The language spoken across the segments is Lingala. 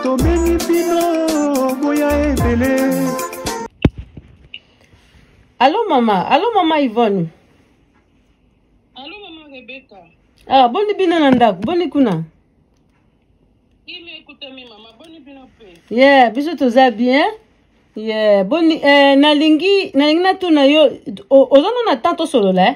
tobengi bino boya ebele alo mama alo mama ivone alo mama rebeka ah, boni bino na ndako boni kuna ye yeah, biso toza bien ye yeah, boni eh, nalingi nalingi natuna yo oza no na temps tosolola eh?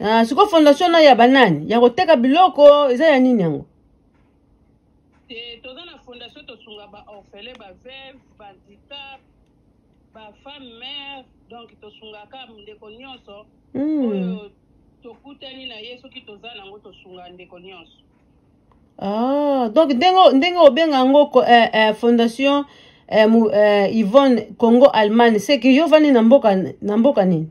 Ah, siko fondation na ya banani ya koteka biloko eza ya nini yango eh, toza na fondation tosunga baorfele baveve bandicap bafemme mare donc tosungaka ndeko nyonso hmm. oyo tokutani na ye soki toza nango tosunga ndeko nyonso ah, donc ndenge ndenge obenga yango eh, eh, fondation eh, mu, eh, yvonne congo allemagne seke yo ovandi na mboka na mboka nini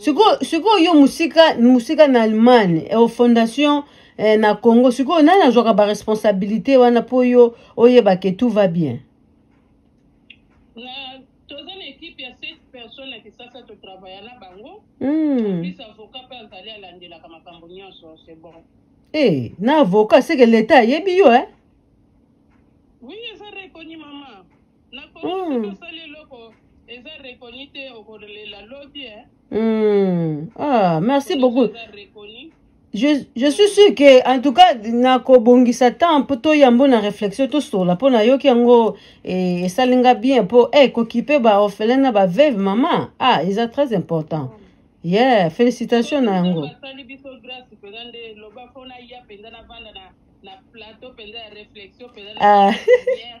sikoyo sikoyo yo mosika mosika na allemagne eh, fondation eh, na congo sikoyo nani azwaka baresponsabilité wana mpo yo oyeba ke tout va bien toza na ekipe ya set personne na kisasa totravailla na bango hmm. plus avocat mpe azali alandelaka makambo nyonso c'est bon e na avocat seke leta ayebi yo e oui eza rekoni mama na kongo soki Mm. osali eloko eza reconi te okolela lobi eh. Hmm. Ah, merci Eloko beaucoup. eza reconi Je, je suis sûr que, en tout cas, nakobongisa temps po toyambo na réflexion tosola po nayoki yango eh, esali nga bien po eh, kokipe ba orphelin na ba veuve mama ah eza très important yeah félicitation na yango Nzambe asali biso grâce mpenza nde loba mpo naya mpenza navanda na, na plateau mpenza ya réflexion mpenza na Ah. lumière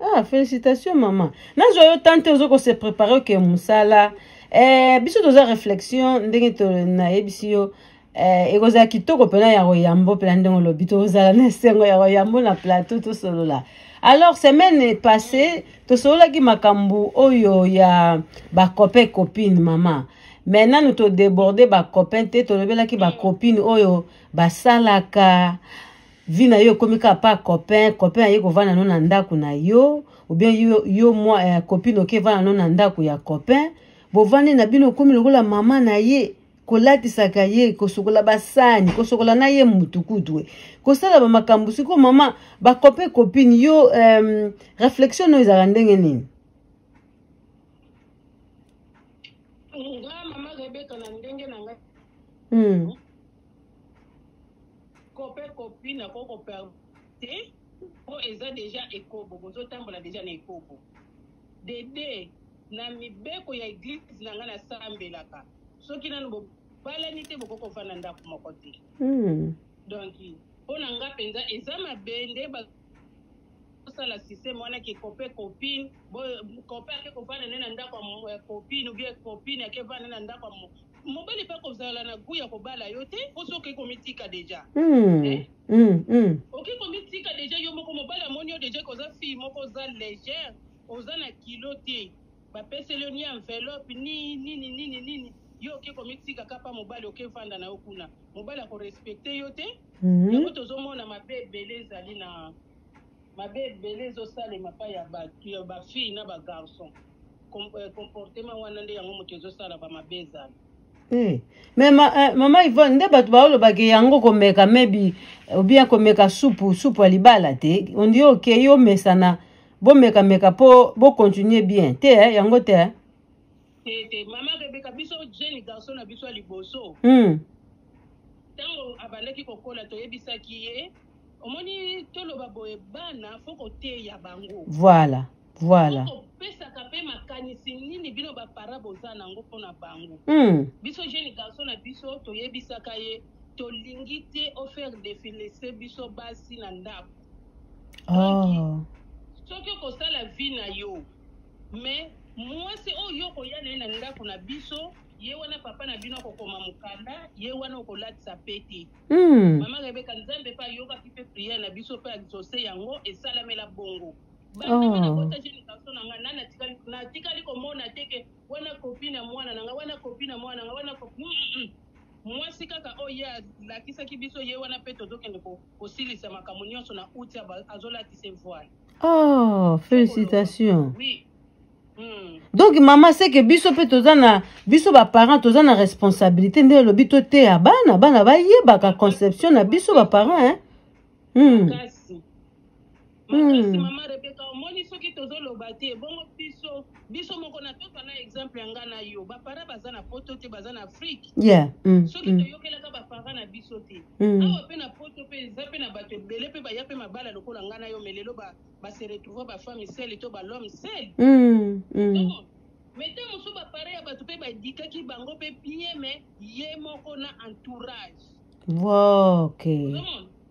Ah, félicitations maman. Nazo yo tante ozo ko se préparer que musala. Eh, biso toza réflexion ndenge to na yebisi yo. Eh, ekozala kitoko pena ya koyambo pena ndenge olobi tozala na esengo ya koyambo na plateau tosolola alors semaine passée tosololaki makambo oyo ya bacopain copine mama mais nanu todeborde bacopain te tolobelaki bacopine oyo basalaka vie na yo ekomi kaka pa copain copain aye kovanda no na ndako na yo obien yo, yo mwa eh, copine oke vanda no na ndako ya copain bovandi na bino okomi lokola mama na ye kolatisaka ye kosokola basani kosokola na ye mutu kutu kosala bamakambo siko mama bakope copine yo um, reflexion oyo ezalaka ndenge nini nga mama rebeka na ndenge na ngai hmm. Kope kopi na ko ko te po eza deja ekobo bozo tambola deja na ekobo. Dede na mibeko ya eglise na nga na sambelaka soki nanu bo balani te bokoki kovanda ndako moko te hmm. donc mpo na nga mpenza eza mabe nde bosala système wana ke copain copine bo copain ake kovanda ne na ndako ya eh, copine ou bien copine ake vanda na ndako ya mobali pe akozala na gout ya kobala yo te po soki okoki komitika deja mm. eh? mm, mm. okoki komitika deja yo moko mobali amoni yo deja koza fille moko oza légère oza na kilo te bapeseli yo ni enveloppe ni nini nini nini yo oke komitika kapa mobali oke vanda na yo kuna mobali akorespecte yo te Mhm. yango tozomona mabe ebele ezali na mabe ebele ezosalema epai ya bato ya bafille na bagarçon euh, comportement wana nde yango moto ezosala bamabe ezala eh. me ma, eh, mama ivone nde bato baolobake yango komeka mebi obien komeka supu supu ya libala te ondi okei omesana bomekameka mpo bocontinue bien te eh, yango te eh? tete mama rebeka biso jeune garçon na biso ya liboso hmm. ntango mm. abandaki kokola toyebisaki ye omoni toloba boye bana fo koteya bango voilà voilà kopesaka mpe makanisi nini bino bapara boza na yango mpo na bango mm. biso jeune garçon na biso toyebisaka ye tolingi te ofaire defilese biso basi na ndako oh. soki okosala vi na yo mais mwasi oyo okoya na ye na ndako na biso ye wana papa na bino akokoma mokanda ye wana okolatisa pe te mm. mama rebeka nzambe mpe ayokaki mpe priere na biso mpe exauce yango esalamela bongo banakotaki oh. likanso na ngai nani natikali komona te ke wana kopi na mwana na ngai wana kopi na mwana na ngai wana kopi mwasi kaka oyo ye alakisaki biso ye wana mpe tozokende ko kosilisa makambo nyonso na uti azolatisa evoile oh félicitation oui. Hmm. donc mama seke biso mpe toza na biso baparent toza na responsabilité nde elobi toteya bana bana bayebaka conception na biso baparent eh? hmm. makasi hmm. mama rebeka omoni soki tozoloba te bongo biso biso moko na toka na exemple ya nga na yo bapara baza na poto te baza na afrike yeah. mm, soki mm. toyokelaka bapara na biso te mm. awa mpe na poto mpe eza mpe na bato ebele mpe baya mpe mabala lokola nga na yo me lelo base retrouva bafami sele to balome sele mm, mm. mais ntango mosusu bapara ya bato mpe badikaki bango mpe bien me ye moko na entourage okay.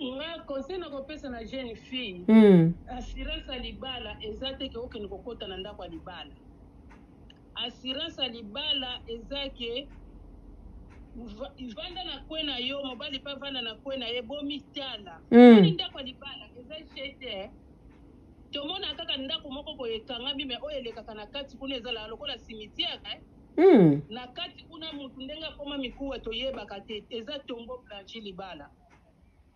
nga conseil na kopesa na jeune fille mm. assurance ya libala eza te ke okende kokota na ndako ya libala assurance ya libala eza ke vanda na kwe na yo mobali mpe avanda na kwe na ye bomitala mm. ani ndako ya libala eza chete eh. tomona kaka ndako moko boye ekangami me oyo elekaka na kati kuna ezalaka lokola cimetière eh. mm. na kati kuna motu ndenge akoma mikuwa toyebaka te eza tombo blanchi libala mm.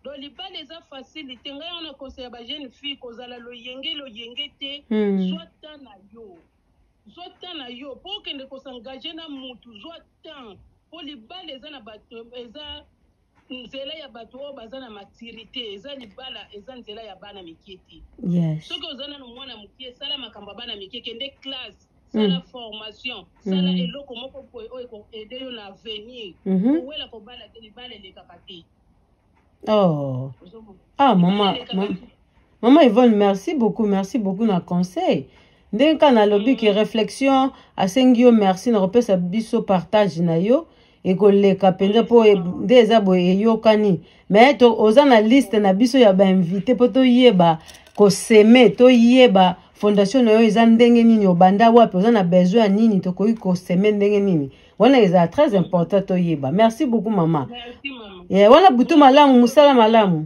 do libala eza facile te ngai wana conseil ya ba jeune fille kozala loyenge loyenge te hmm. zwa temps na yo zwa temps na yo mpo okende kosengage na mutu zwa temps mpo libala eza na bato eza nzela ya bato oyo baza na maturité eza libala eza nzela ya bana mike te soki oza nano mwana moke sala makambo ya bana mike kende classe sala mm. formation sala mm. eloko moko boye oyo ekoaide yo na avenir mhm. owela kobala te libala elekaka te oh. ah mama mama yvonne merci beaucoup merci beaucoup na conseil ndenge kaka nalobi ke mm. réflexion asengi yo merci na kopesa biso partage na yo ekoleka mpenza mpo e, nde eza boye eyokani me to oza na liste na biso ya bainvite mpo toyeba koseme toyeba fondation na yo eza ndenge nini obanda wapi oza na besoin ya nini tokoki koseme ndenge nini wana ezala très important toyeba merci beaucoup mama yeah, wana butu malamu mosala malamu